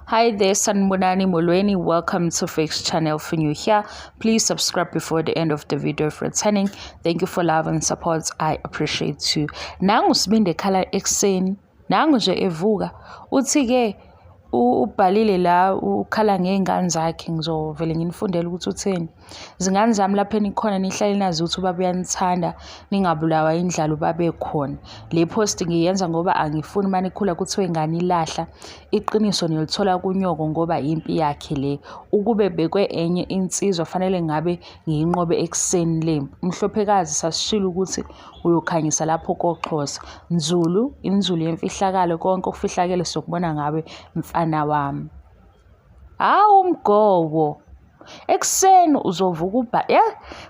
Hi there, Sanmunani Mulweni. Welcome to Fix Channel for new here. Please subscribe before the end of the video if returning. Thank you for love and support. I appreciate you. Nangu sibinde khala ekseni. Nangu nje evuka. Uthi ke ubhalile la ukhala ngey'ngane zakhe ngizovele nginifundele ukuthi utheni Zingane zami lapho enikhona nihlale nazi ukuthi ubaba uyanithanda ningabulawa indlala ubaba ekhona. Le post ngiyenza ngoba angifuni uma nikhula kuthiwe ingane ilahla. Iqiniso nilithola kunyoko ngoba impi yakhe le. Ukube bekwe enye insizwa fanele ngabe ngiyinqobe ekuseni le mpi. Umhlophekazi sasishilo ukuthi uyokhanyisa lapho koXhosa. Nzulu, inzulu yemfihlakalo konke okufihlakele sokubona ngawe mfana wami. Hawu mgobo! ekuseni uzovuka ubha ya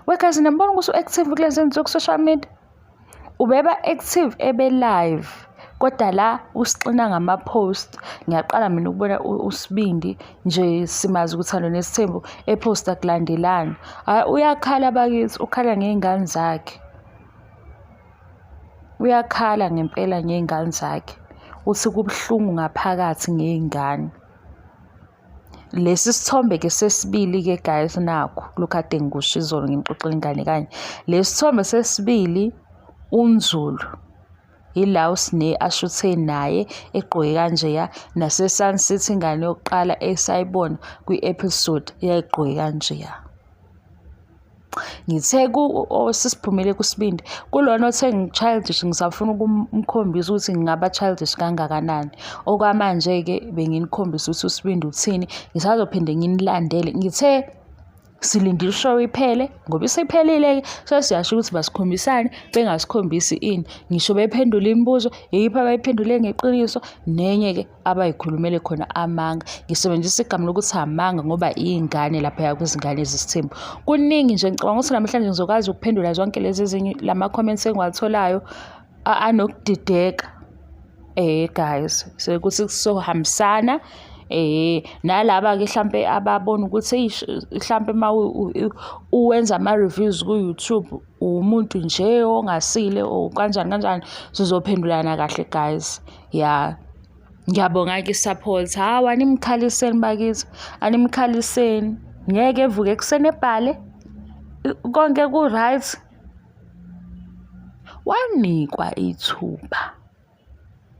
wekazi nambona ukuthi u-active kulezi nsuku ku-social media ubeba active ebe live kodwa la usixina ngama-post ngiyaqala mina ukubona usibindi nje simazi ukuthi alona esithembu ephosta kulandelani hhayi uyakhala bakithi ukhala ngey'ngane zakhe uyakhala ngempela ngey'ngane zakhe uthi kubuhlungu ngaphakathi ngey'ngane lesi sithombe ke sesibili ke guys nakho lokhu ade ngikusho izolo ngimxoxela ingane kanye lesi sithombe sesibili unzulu yila usine ashuthe naye egqoke kanjeya nasesun city ingane yokuqala esayibona kwi-episode yayigqoke kanjeya ngithe osisiphumele kusibindi kulona othe ngi-childish ngisafuna ukumkhombisa ukuthi ngingaba childish kangakanani okwamanje-ke benginikhombisa ukuthi usibindi uthini ngisazophinde nginilandele ngithe silinde ishow iphele ngoba isiphelile-ke sesiyasho ukuthi basikhombisane bengasikhombisi ini ngisho bephendula imibuzo yeyiphi abayiphendule ngeqiniso nenye-ke abayikhulumele khona amanga ngisebenzisa igama lokuthi amanga ngoba iy'ngane laphaya kwizingane zesithembu kuningi nje ngicabanga ukuthi namhlanje ngizokwazi ukuphendula zonke lezi ezinye la ma-comments engiwatholayo anokudideka eh guys sekuthi kusohambisana eh nalaba ke mhlambe ababona ukuthi mhlambe uma uwenza ama reviews ku YouTube umuntu nje ongasile or kanjani kanjani sizophendulana kahle guys ya ngiyabonga ke support hawu animkhaliseni bakithi animkhaliseni ngeke evuke ekuseni ebhale konke ku-right wanikwa ithuba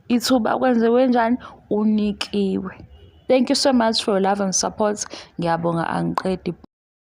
ithuba kwenziwe njani unikiwe thank you so much for your love and support ngiyabonga angiqedi